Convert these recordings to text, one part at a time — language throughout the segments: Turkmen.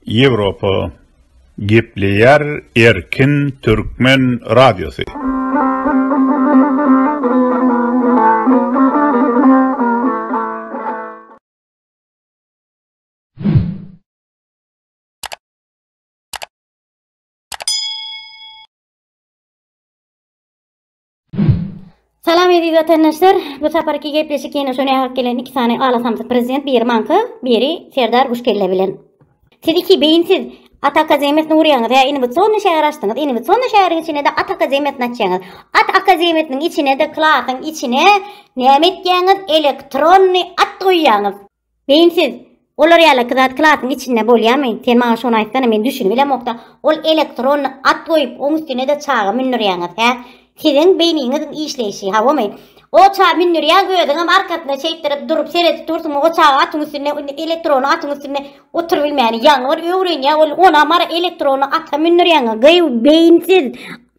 Ýewropa gepleýär erkin türkmen radiosy. Salam eziz vatandaşlar. Bu saparki gepleşik ýene şoňa hak gelen iki sany alasamsyk prezident, biri manka, biri Serdar Guşkelle bilen. Siz iki beyinsiz At akademiýasyny urýaňyz. Hä, indi bu sonda şäher açdyňyz. Indi bu sonda şäheriň içinde de At akademiýasyny açýaňyz. At akademiýasynyň içine de klasyň içine näme etýäňiz? Elektronny at goýýaňyz. Beýinsiz, olar ýaly iki zat klasyň içinde bolýamy? Sen maňa şony aýtsana, men düşünibilemokda, ol elektronny at goýup, oň üstüne-de çaga mündürýäňiz, hä? Siziň beýniňiziň işleýşi, hawymy? O çaga mündürýäň, özüňem arkasyna şeýtdirip durup seredip dursuň, o çaga atyň üstünde, indi elektrony atyň üstünde oturybilmäni ýaňy bir öwrenýär, ol, onam ara elektronny ata mündürýäňiz, gyýw, beýinsiz!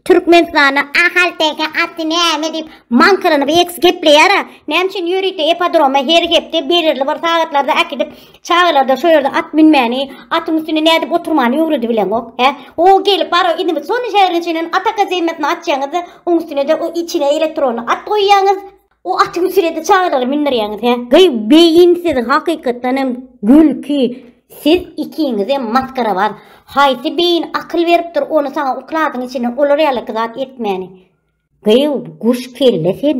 Türkmenistanda ahalteke aty näme diýip maňkyranyp eks gepleýär-a? Näme üçin ýörite ipodroma her hepde belirli bir sagatlarda äkidip, çagalarda şo ýerde at münmäni, atyň üstünde nädip oturmany öwredibileňok, hä? O gelip bar o indi şony şäheriň içinden at akademiýasyna atýaňyz-da, oň üstüne-de o içine elektronly at goýýaňyz. O aty müsürede çagalary mindirýäňiz he? Gyý beýin siziň hakykatdan hem gülki siz ikiňizem maskarawaz haýsy beýin akyl beripdir ony saňa ukladyň içinden olar ýalaky zat etmäni gyý guş kelle sen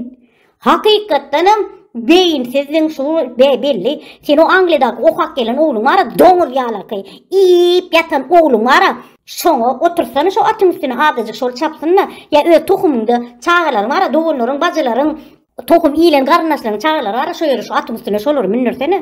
hakykatdan hem beýin siziň şu be belli sen o angliýadaky okap gelen ogluň bara doňuz ýalaky iýip ýatan ogluň bara Şoňa otursana şo atyň üstüne azajyk şol çapsyn-da, ýa öz tohumyňda çagalaryň bara, doganlaryň, bajylaryň, tohum iýlen garyndaşlaryň çagalary bara şo ýere şo atyň üstüne şolary mündürsene.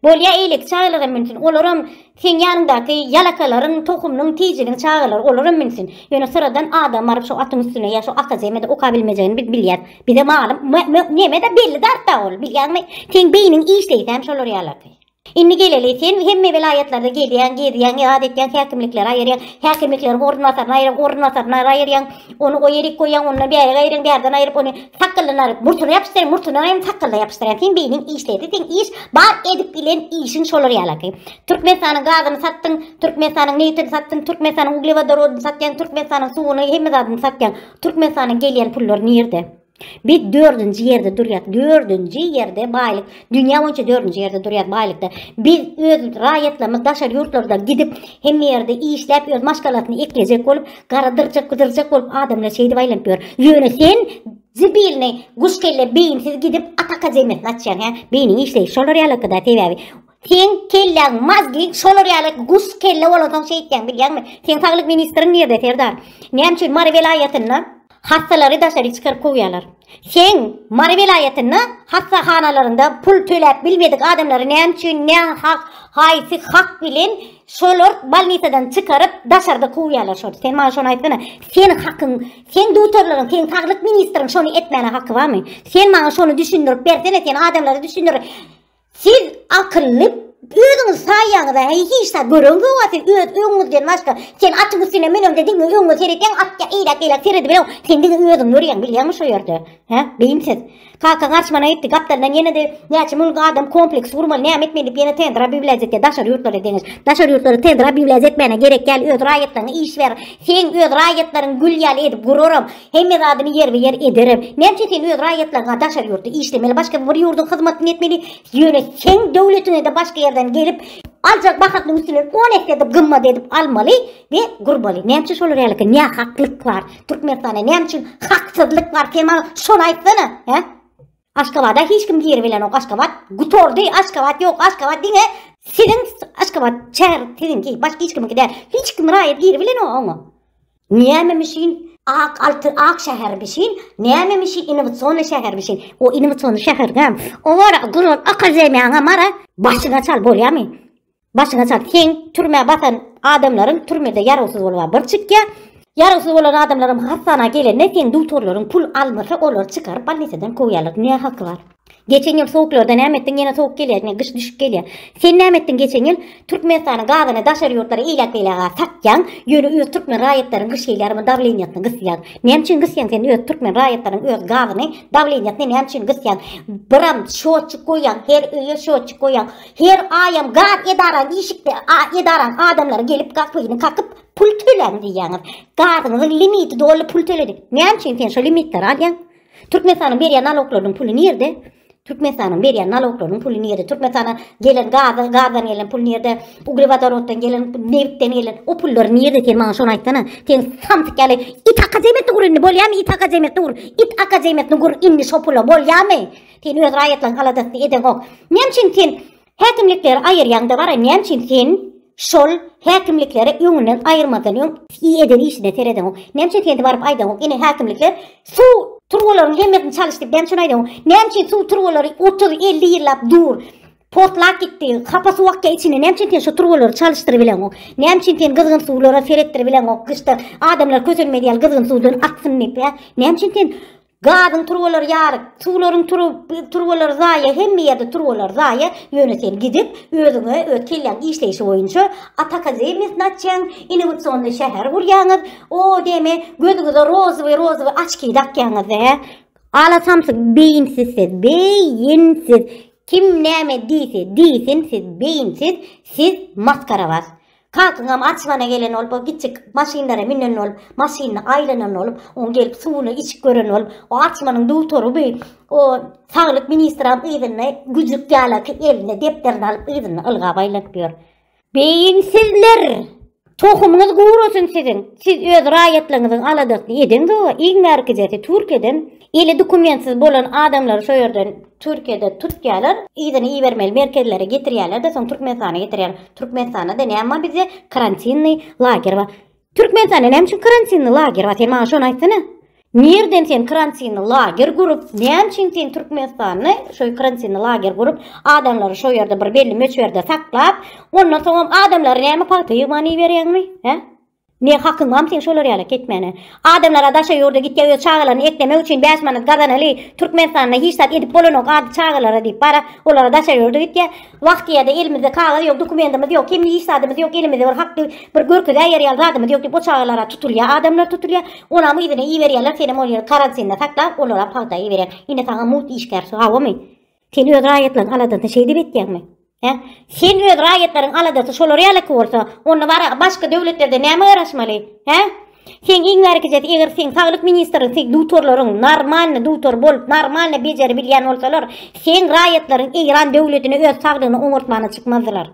Bolýa eýleki çagalar hem münsün, olaram seň ýanyňdaky ýalakalaryň, tohumynyň, tijiniň çagalary, olaram münsün. Ýöne syradan adam baryp şo atyň üstüne ýa şo ata zemede oka bilmejegini biz bilýäs. Bize malym, mö, mö, neme-de belli zat-da ol, bilýäňmi? Seň beýniň işleýsem şolar ýalardy. Indi geleli, sen hemme welaýatlarda gezýäň, gezýäň, ýat etýäň, häkimlikleri aýyrýaň, häkimlikleri orunbasaryny aýyrýaň, orunbasaryny aýyrýaň, ony o ýerik goýýaň, ondan bärik aýyrýaň, bärden aýryp ony sakgylyndan aýryp murtyna ýapyşdyrýaň, murtyndan aýryp sakgalyna ýapyşdyrýaň. Seň beýniň işleýdi, seň iş bar edip bilen işiň şolar ýalaky. Türkmenistanyň gazyny satdyň, Türkmenistanyň nebtini satdyň, Türkmenistanyň uglewodorodyny satýaň, Türkmenistanyň suwuny, hemme zadyny satýaň. Türkmenistanyň gelýän pullary nirde? Biz dördünji ýerde durýas. Dördünji ýerde baýlyk. Dünýä boýunça dördünji ýerde durýas baýlykda. Biz öz raýatlarymyz daşary ýurtlarda gidip, hemme ýerde işläp, öz maşgalasyny eklejek bolup, gara dyrjak, gydyrjak bolup adamlar şeýdip aýlanyp ýör. Ýöne sen zibilni guşkelle beýinsiz gidip Ataka zemesini açýaň hä? Beýniň işleýşi şolar ýalakada sebäbi. Seň kelläň mazgi şolar ýaly guş kelle bolansoň şeýtýäň bilýäňmi? Seň saglyk ministriň nirde serdar? Näme üçin Mary welaýatynda hassalary daşary çykaryp kowýarlar? Seň Mary welaýatynda hassahanalarynda pul töläp bilmedik adamlary näme üçin nä hak haýsy hak bilen şolar bolnisadan çykaryp daşarda kowýarlar şolar? Sen maňa şony aýtsana. Sen hakyň seň dutarlaryň seň saglyk ministriň şony etmäne haky barmy? Sen maňa şony düşündirip bersene sen adamlara düşündir. Siz akylly özüňiz saýaňyza heý hiç zat gören zoga siz öz öňüňizden başga sen atyň üstüne münende diňe öňüňe seretýäň at ya eýläk beýläk seredibeleň sen diňe özüň görýäň bilýäňmi şo ýerde he beýimsiz kaka garçmana etdi gapdaldan ýene de näçe müň adam kompleks gurmaly näme etmeli diýip ýene tendra biwläz etýär daşary ýurtlara deňiş daşary ýurtlara tendra biwläz etmäne gerek ýaly öz raýatlaryňa iş ber sen öz raýatlaryň gül ýaly edip guraram Hemme zadyny ýerbe-ýer ederem. Näçe sen öz raýatlaryňa daşary ýurtda işlemeli, başga bir ýurduň hyzmatyny etmeli, ýöne seň döwletiňe-de başga ýerden gelip, aljak bahasynyň üstünden on esse-de gymmat edip almaly we gurmaly. Näme üçin şolar ýalyka nähaklyk bar? Türkmenistanda näme üçin haksyzlyk bar? Sen maňa şony aýtsana, hä? Aşgabada hiç kim giribilenok Aşgabat gutordy Aşgabat yok Aşgabat diňe siziň Aşgabat çär siziňki başka hiç kimiňki däl hiç kim raýat giribilenok oňa Nämemişin ak altı ak şäher bişin nämemişi innowasionny şäher bişin o innowasionny şäherdäm o wara guran akademiýaňa mara başyna çal bolýamy Başyňa çal seň türmä batan adamlaryň türmede ýarawsyz bolba bir çykýa ýarawsyz bolan adamlaryň hassana gelende seň dugtorlaryň pul almasa olary çykaryp balnisadan kowýarlar ne haky bar Geçen ýyl sowuklarda näme etdiň ýene sowuk gelýä ýene gyş düşüp gelýä sen näme etdiň geçen ýyl türkmenistanyň gazyny daşary ýurtlara ilat beýläga satýaň ýöne öz türkmen raýatlaryň gyş gelýärmi dawleniýasyny gysýaň näme üçin gysýaň sen öz türkmen raýatlaryň öz gazyny dawleniýasyny näme üçin gysýaň biram şotçyk goýýaň her öýe şotçyk goýýaň Her aýam gaz edarany işikde edarany adamlary gelip gapyny kakyp pul töläň diýýäňiz. Gazyňyzyň limiti doly pul töledik. Näme üçin sen şu limitleri alýaň? Türkmenistanyň berýän naloklarynyň puly nirde? Türkmenistanyň berýän naloklarynyň puly nirde? Türkmenistana gelen gazy, gazdan gelen pul nirde? Uglewodoroddan gelen, nebitden gelen o pullar nirde? Sen maňa şony aýtsana. Sen samsyk ýaly it akademiýetini gur indi bolýamy? It akademiýetini gur. It akademiýetini gur indi şu pula bolýamy? Sen öz raýatlaň haladasy edeňok. Näme üçin sen häkimlikleri aýyrýaňda bara näme üçin sen şol häkimlikleri öňünden aýyrmadan öň i eden işine seredeňok. Näme üçin sen baryp aýdaňok. Ine häkimlikler suw turbalaryň hemmesini çalyşdyk. Näme üçin aýdaňok. Näme üçin suw turbalary 30-50 ýyllap dur. Potlap gitdi. Hapa suw akýa içine. Näme üçin sen şu turbalary çalyşdyryp bileňok. Näme üçin sen gyzgyn suwlara seretdirip bileňok. Gyşda adamlar kösenmedi ýaly gyzgyn suwdan aksyn diýip. Näme üçin sen Gazyň turbalary ýaryk, suwlaryň turbalary zaýa, hemme ýerde turbalar zaýa, ýöne sen gidip, özüňe, öz kelläň işleýşi boýunça at akademiýasyny açýaň, innowasionnyý şäher gurýaňyz, o deme, gözüňize rozowy, rozowy oçki dakýaňyz-da, hä? Ala samsyk beýinsiz siz, be-ýin-siz! Kim näme diýse, diýsin, siz beýinsiz, siz maskarabaz! Kakyňam açylyana gelen bolup, o kiçi maşynlara münen bolup, maşynyny aýlanan bolup, oň gelip suwuny içip gören bolup, o açylanyň dutary bi, o saglyk ministram yzyny güjük ýalaki eline depderini alyp yzyny ylgap aýlanyp ýör. Beýinsizler! Tohumyňyz gurasyn siziň! Siz öz raýatlaryňyzyň aladasyny edeňzok-a, iň bärkijesi Türkiýeden Eli dokumentsiz bolan adamlary şo ýerden Türkiýede tutýarlar, yzyna ibermeli merkezlere getirýärler-de soň Türkmenistana getirýärler. Türkmenistanda-da näme bar bizde? Karantinnyý lager bar. Türkmenistanda näme üçin karantinnyý lager bar? Sen maňa şony aýtsana. Nireden sen karantinnyý lager gurup, näme üçin sen Türkmenistanda şoý karantinnyý lager gurup, adamlary şo ýerde bir belli möçberde saklap, ondan soňam adamlary näme pagta ýygman iberýäňmi? Hä? Ne hakyň bamy seň şolar ýala ketmäne. Adamlara daşa ýurda gitýä öz çagalaryny eklemek üçin bäş manat gazanaly Türkmenistanda hiç zat edip bolanok ady çagalara diýip bara olara daşa ýurda gitýä. Wagtyýada elimizde kagyz ýok dukumendimiz ýok hemme hiç zadymyz ýok elimizde bir hak diýip bir görkezäýer ýaly zadymyz ýok diýip o çagalara tutulýa adamlar tutulýa onam yzyna iberýäler senem ol ýeri karantinda saklap olara pagta iberýäň ine saňa mugt işgär hawamy. Sen öz raýatlaryň aladasyny şeýdip etýäňmi? Hä? Sen öz raýatlaryň aladasy şolar ýalyky bolsa, onda bara başga döwletlerde näme garaşmaly? Hä? Sen iň bärkijesi eger sen saglyk ministri sen dutorlaryň normalny dutor bolup normalny bejeri bilýän bolsalar, sen raýatlaryň Eýran döwletine öz saglygyny oňartmana çykmazdylar.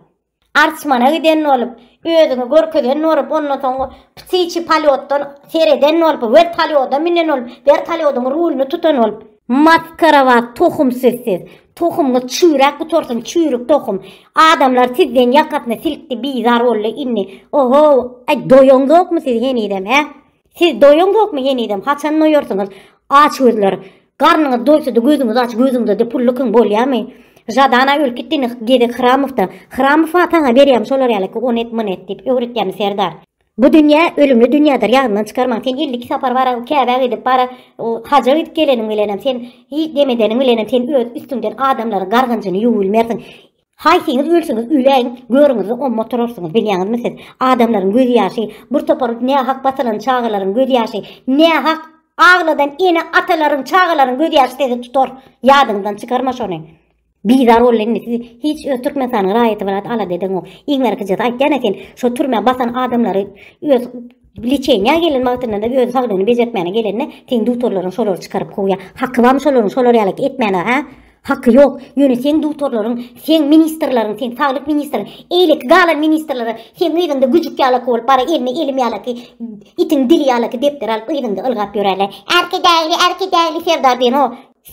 Artmana giden bolup, özüňi görkezen bolup, ondan soň ptiçi polýotdan sereden bolup, wer polýoda münen bolup, wer polýodyň rulyny tutan bolup. Maskara bar tohum siz siz. Tohumyňyz çüýräp gutarsyn çüýrük tohum. Adamlar sizden ýakasyny silkdi bizar boldy indi. Ohow, aý doýaňzokmy siz henizem hä? Siz doýaňzokmy henizem, haçan doýarsyňyz, açgözler? Garnyňyz doýsa-da gözüňizi aç, gözüňde-de pul lykyň bolýamy? Žadana ölüp gitdini gezek Hramowda. Hramow-a saňa berýämi şolar ýaly ki, ony et, muny et diýip öwretýämi serdar? Bu dünýä ölümli dünýädir, ýadyňdan çykarmaň. Sen elli iki sapar bara Käbä gidip, bara haja gidip geleniň bilenem, sen hiç dem edeniň bilenem sen öz üstüňden adamlaryň gargynjyny ýuwubilmersiň. Haýsyňyz ölseňiz öläýiň, görüňizi omma oturarsyňyz, bilýäňizmi siz? Adamlaryň gözýaşy, bir topar nähak basylan çagalaryň gözýaşy, nähak agladan ene-atalaryň, çagalaryň gözýaşy sizi tutar. Ýadyňyzdan çykarma şony. Bizar boldy indi sizi hiç öz Türkmenistanyň raýaty brat alada edeňok. Iň arkyjysy aýtýan-a sen şo türmä basan adamlary öz liçeniýa gelen wagtyndada öz saglygyny bejertmäne gelende seň dutorlaryň şolary çykaryp kowýa. Haky barmy şolaryň şolar ýaly etmäne, hä? Haky ýok, ýöne seň dutorlaryň, seň ministrleriň, seň saglyk ministriň, eýleki galan ministrlere seň yzyňda güjük ýalaky bolup bara eline elim ýalaky, itiň dili ýalaky depderi alyp yzyňda ylgap ýörerler. Arkadagly, Arkadagly Serdar diýen o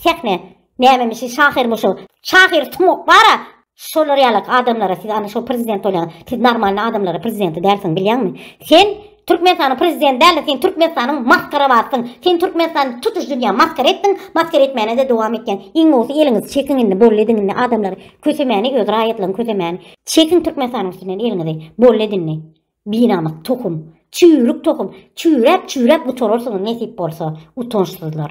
sähne nämemişi şahyrmyşo. Şahyr sumak bara Şolar ýalak adamlara siz ana şo prezident bolýaňyz siz normalny adamlara prezidenti dälsiň bilýäňmi sen Türkmenistanyň prezidenti dälde sen Türkmenistanyň maskarabasyň sen Türkmenistany tutuş dünýä maskara etdiň maskara etmänede dowam etýäň iň bolsa eliňizi çekiň indi bolly ediň indi adamlary kösemäni öz raýatlaryňy kösemäni çekiň Türkmenistanyň üstünden eliňizi bolly edin indi binamys tohum çüýrük tohum çüýräp çüýräp gutararsyňyz nesip bolsa utançsyzlar.